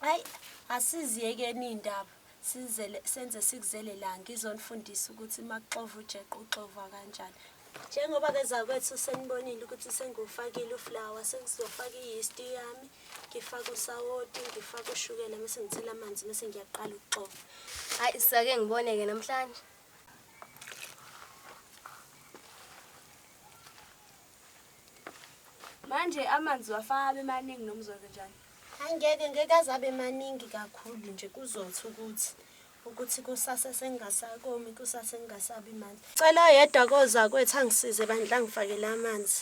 Ayi asiziyekeni iy'ndaba sizele senze sikuzele la ngizonifundisa ukuthi makuxova ujeqe uxova kanjani. Njengoba-ke zakwethu senibonile ukuthi sengiwufakile uflawa sengizofaka i-yeast yami ngifake usawoti ngifake ushukela mese ngithela amanzi mese ngiyaqala ukuxova hayi sake ngiboneke namhlanje manje amanzi wafaka abe maningi noma uzokwenzenjani Hayi ngeke ngeke aze abe maningi kakhulu nje kuzothi ukuthi ukuthi kusasa sengingasakomi kusasa sengingasabi manje cela yedwa koza kwethu angisize bandla ngifakele amanzi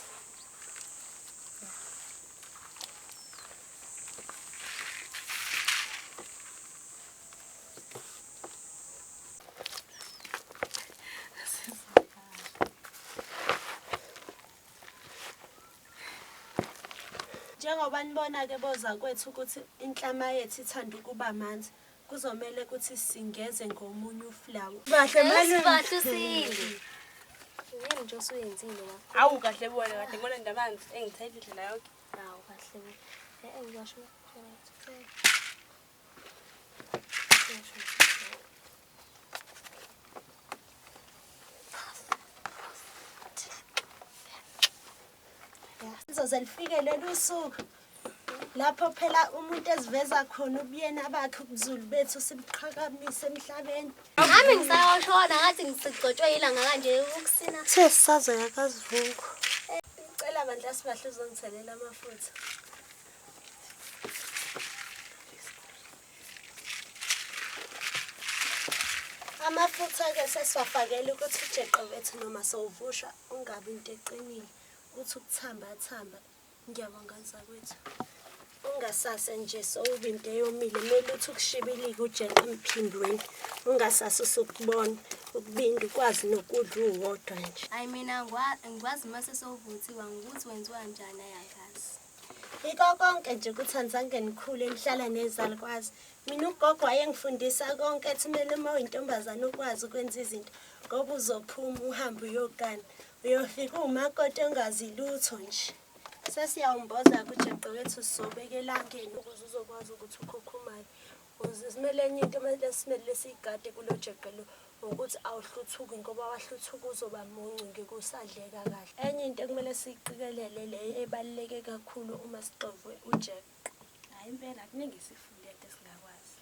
Njengoba nibona-ke bozakwethu ukuthi inhlama yethu ithanda ukuba manzi, kuzomele ukuthi singeze ngomunye uflawa. Kahle malume. Bahle usile. Yini nje osuyenzile la? Awu kahle bona kahle ngibona ndamanzi engithethe indlela yonke. Hawu kahle. Eh eh ngisho. ngizoze lifike lolu suku lapho phela umuntu eziveza khona ubuyena bakhe ubuzulu bethu sibuqhakamise emhlabeni nami ngisawashona ngathi ngisigcotshwe yilanga kanje ukusina the sisazoya kazivuko ngicela bandla sibahle uzongithelela amafutha amafutha-ke sesiwafakele ukuthi ujeqe wethu noma sowuvusha ungabi into eqinile ukuthi ukuthambathamba ngiyabonga zakwethu ungasase nje sowuba into eyomile kumele ukuthi ukushibilike ujeqe emphindweni ungasase usukubona ukubinda ukwazi nokudla uwodwa nje ayi mina ngikwazi uma sesowuvuthiwa ngokuthi wenziwa njani ayakazi Yiko konke nje ukuthi anizange nikhule nihlala nezalukwazi. Mina ugogo wayengifundisa konke ethi kumele uma uyintombazane ukwazi ukwenza izinto ngoba uzophuma uhambe uyogana. Uyofika uwumakoti ongazi lutho nje. Sesiyawumboza kujeqe wethu sobeka elangeni ukuze uzokwazi ukuthi ukhukhumale. Uzimele enye into mele simele siyigade kulojeqe lo ngokuthi awuhluthuki ngoba wahluthuka uzoba muncu ngikusadleka kahle. Enye into ekumele siyiqikelele le ebaluleke kakhulu uma sixovwe ujeqe. Hayi impela kuningi sifunde into esingakwazi.